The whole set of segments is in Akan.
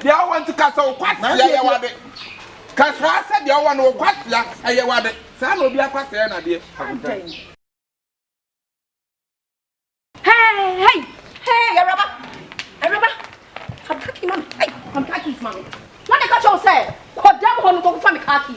Deɛ ɔwɔ nti ka sɛ wo kwasea yɛ w'ade. Ka saa sɛ deɛ ɔwɔ no wo kwasea ɛyɛ w'ade. Saa na obiara kwasea yɛ n'adeɛ. Adɛn? Hey, hey, hey, awuraba, awuraba, fa car key ma me, hey, fa me car keys ma me. Wɔn na ɛka kyerɛ wo sɛ kɔ dam hɔ no kɔkɔfa me car key.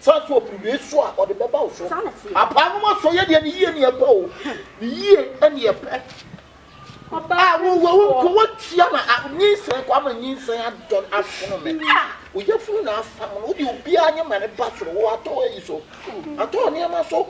Saa nso apueɛ so a ɔde bɛba wo so. Apaanom asɔ yɛ deɛ ne yie ne ɛpɛ o, ne yie ne ɛpɛ. A wɔwɔ wo nko wɔtia na nyinsɛn kɔ ama nyinsɛn adɔn asono me. A oyafunu na afam no wode obiara nye ma ne ba soro wɔ atɔ ayi so. Atɔ nneɛma so.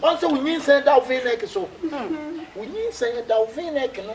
Wɔn sɛ wo nyinsɛn da wo venɛk so. Wo nyinsɛn da wo venɛk no.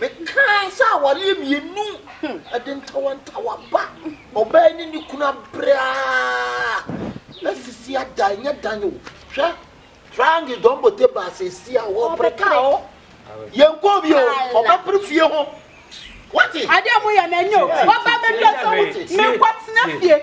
Mekaa sɛ awareɛ mmienu de ntawantawa ba, ɔbaa yi ne ne kunu abrɛ ara asisi adan, ɛnyɛ dan o, hwɛ triangle dɔn bote baa sɛ ɛsi a wɔpere kaa hɔ, yɛn kɔɔ bi o, ɔbɛpere fie ho. Wate? Adeɛ mo yɛ na ɛnyɛ o, wɔba bɛdua sɛ wo, menkɔ tena fie.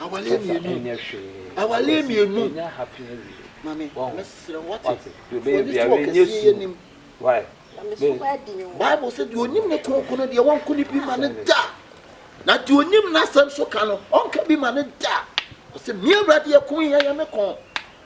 awaleɛ mmienu ɛnyɛ hwee awaleɛ mmienu ɛnyɛ happy awie mami mɛsrɛ wate fɔni so ɔkɛseɛ yɛ nim bible sɛ deɛ ɔnim ne kronkron no deɛ wɔnko ne bi ma ne da na deɛ ɔnim n'asɛm so ka no ɔnka bi ma ne da ɔsɛ mmea awurade ɛko yɛ yɛ me kɔn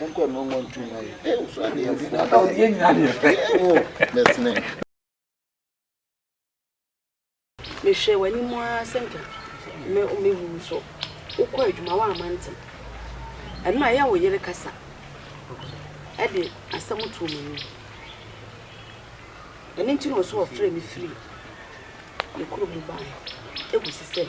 Nkɔ no mo ntu ma yi. Eh, so ade yɛ fo. Aka wo yɛ nyina deɛ fɛ. Eh, wo, bɛsene. Mehwɛ w'anim ara sɛ nka me me wu nso. Wokɔ adwuma wa amante. Ɛno a ɛyɛ wo yere kasa. Ɛde asɛm to mu ni. Ɛno nti na ɔso ɔfrɛ me firi ne kuro mu baa. Ɛgu si sɛ.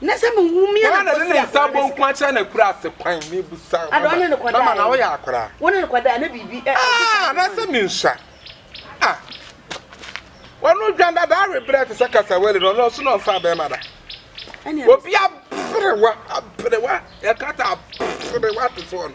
Na sɛ mehu me Hena na ɛde ne anakɔsea nsa bɔ nku akyerɛ n'akurase kwan? Mebisa wo, Ada, ɔne no kɔdae. mama, na woyɛ akwadaa. Wo ne no kɔdae, na biribi ɛ- ɛkeka Ah, ne anaasɛ kwan. mensua? Ah, ɔno dwan dada awe berɛ te sɛ kasawali no, ɔno ɔso na ɔmfaa bɛrima da. Ɛne a- Obi aberewa, aberewa, yɛka sɛ aberewa te sɛ ɔno.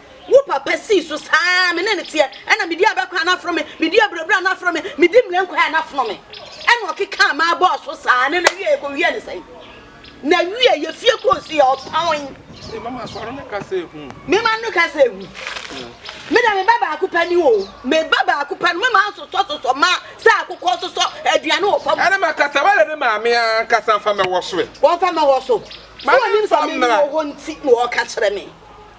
Wo papa sii so saa ara, me ne no teɛ, ɛna medi abɛkɔ a na afono me, medi abirabira a na afono me, medi mmire nkɔeɛ a na afono me. Ɛna ɔkekaa maa bɔɔ so saa, na n'awieɛ yɛkɔwiee no sɛn? N'awieɛ yɛfie kɔɔ si yɛ ɔpɔn. Me mama sɔre no ka sɛ ehu. Me mama no ka sɛ ehu. Me deɛ me ba baako pɛ ni o, me ba baako pɛ no me maa sosɔ sosɔ ma sɛ akokɔ sosɔ aduane wɔ fam. Ɛna ma kasa wɛrɛ ne maame ankasa nfa mɛwɔ so ɛ. Wɔnfa mɛwɔ so. Sɛ wɔnim sɛ me ni wɔ hɔ nti na wɔka kyerɛ me.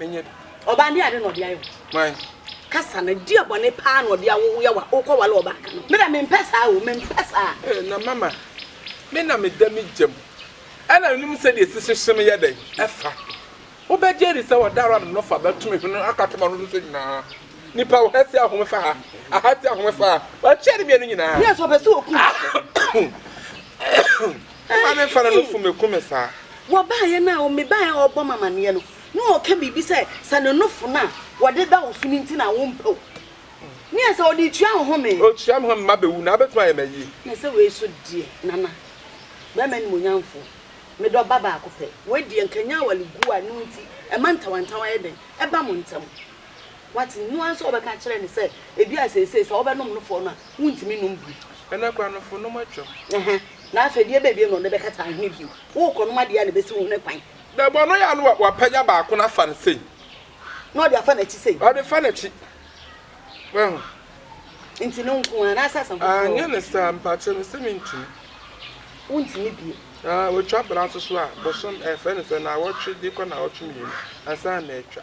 Menyɛ bi. Ɔbaa deɛ ade na ɔde ayɛ wo. Why? Kasa no deɛ bɔne paa na ɔde awo wo yɛ wa wokɔ wale ɔbaa ka no me dɛ mempɛ saa o mempɛ saa. Ee na mama me na me da me gyam ɛna menim sɛ deɛ sisi hye me yɛ dɛn ɛfa wo bɛ gye adi sɛ ɔda rad no fa bɛ to me hwene aka to ma no so nyinaa nipa wo ha si ahome fa ha aha si ahome fa ha wa kyɛ ne mmienu nyinaa. Yes ɔpɛ sɛ oku me. Ɔbaa me fa na no fu me ku me saa. Wɔbaeɛ no a, mebaeɛ a ɔrebɔ me amaneɛ no, na ɔreka biribi sɛ, sɛ ne nofo no a wɔde da wo so no nti na wompɛ wo ne yɛ sɛ ɔde retua wo home. Ɔtua me home ma bɛwu na abɛtumi ayɛ me ayie. Na sɛ wei so deɛ, Nana, barima animuonyamfoɔ, me dɔ ba baako pɛ, wei deɛ nka ɛnyɛ awale guo a ɛno nti ɛma ntawantawa yɛ dɛn ɛba mo ntam. Wate, ɛno ara nso a wobɛka akyerɛ no sɛ, ebi a seesei sɛ wobɛnom nofo no a, Wontumi nnom bi. Ɛnɛ koraa no fo nom atwam. Ɛhɛ, na afei deɛ ɛbɛn bio na ɔde bɛkata ahene bio? Worekɔnom adeɛ a na ɛbɛsi wo hene kwan. Dabi, ɔno yɛ a na wapagya baako no afa no sei. Na ɔde afa n'akyi sei. Ɔde fa n'akyi. Wahu? Nti no nko ara, anaasɛ asa foforɔ? Aah, nyɛ no saa, mpakyɛ, mese mentumi. Wontumi bio. Aah, wɔtwa bra nso so a, bosom, ɛfrɛ no sɛ, naawɔtwe de kɔ naawɔtwe mmienu ansa na atwa.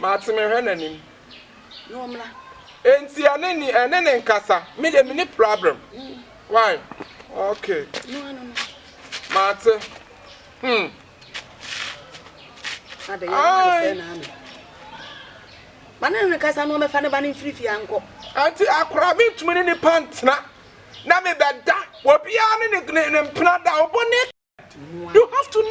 Mate me hwɛ nanim. Na ɔmra. Enti ɛne ni ɛne ne nkasa me de mini problem why okay no ano no mate hmm ade ya na ade na ame bana ne nkasa no ɔmɛfa ne ba ne mfiri fie ankɔ enti akora me ntumi ne nipa ntena na me bɛda obiara ne ne ne mpena da obo ne you have to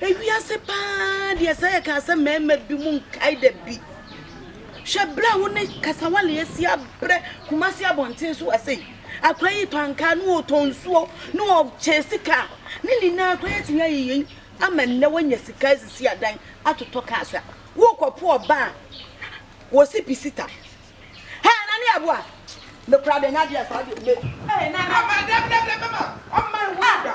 Ewiase paa deɛ sɛ yɛkaa sɛ mmarima bi mu nkae da bi. Hwɛ berɛ a wo ne kasawale asi abrɛ Kumasi abɔnten so ase yi. Akwa yi tɔ ankaa ne ɔtɔ nsuo ne ɔkyɛ sika ne nyinaa koraa atumi ayɛ yei ama nnɛ wanya sika asisi adan atotɔ cars a wokɔpo ɔba a wɔsi pisita. Hɛ na ne aboa me koraa deɛ nyɛ adeɛ saa deɛ me. Ɛɛ na na ma dɛm dɛm dɛm mɛma ɔmma nhu da.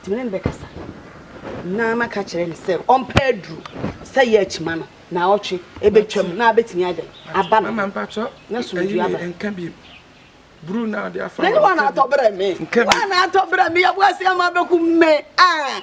Nti me ne no bɛkasa na maka akyerɛ no sɛ ɔmpɛ aduru sɛ yɛ akyima no na ɔtwe ɛbɛtwam na abɛtumi adɛn aba no na somdwe aba buru na ade afa ne wana atɔ brɛ me wana atɔ brɛ me yɛboa sɛ ama bɛku me a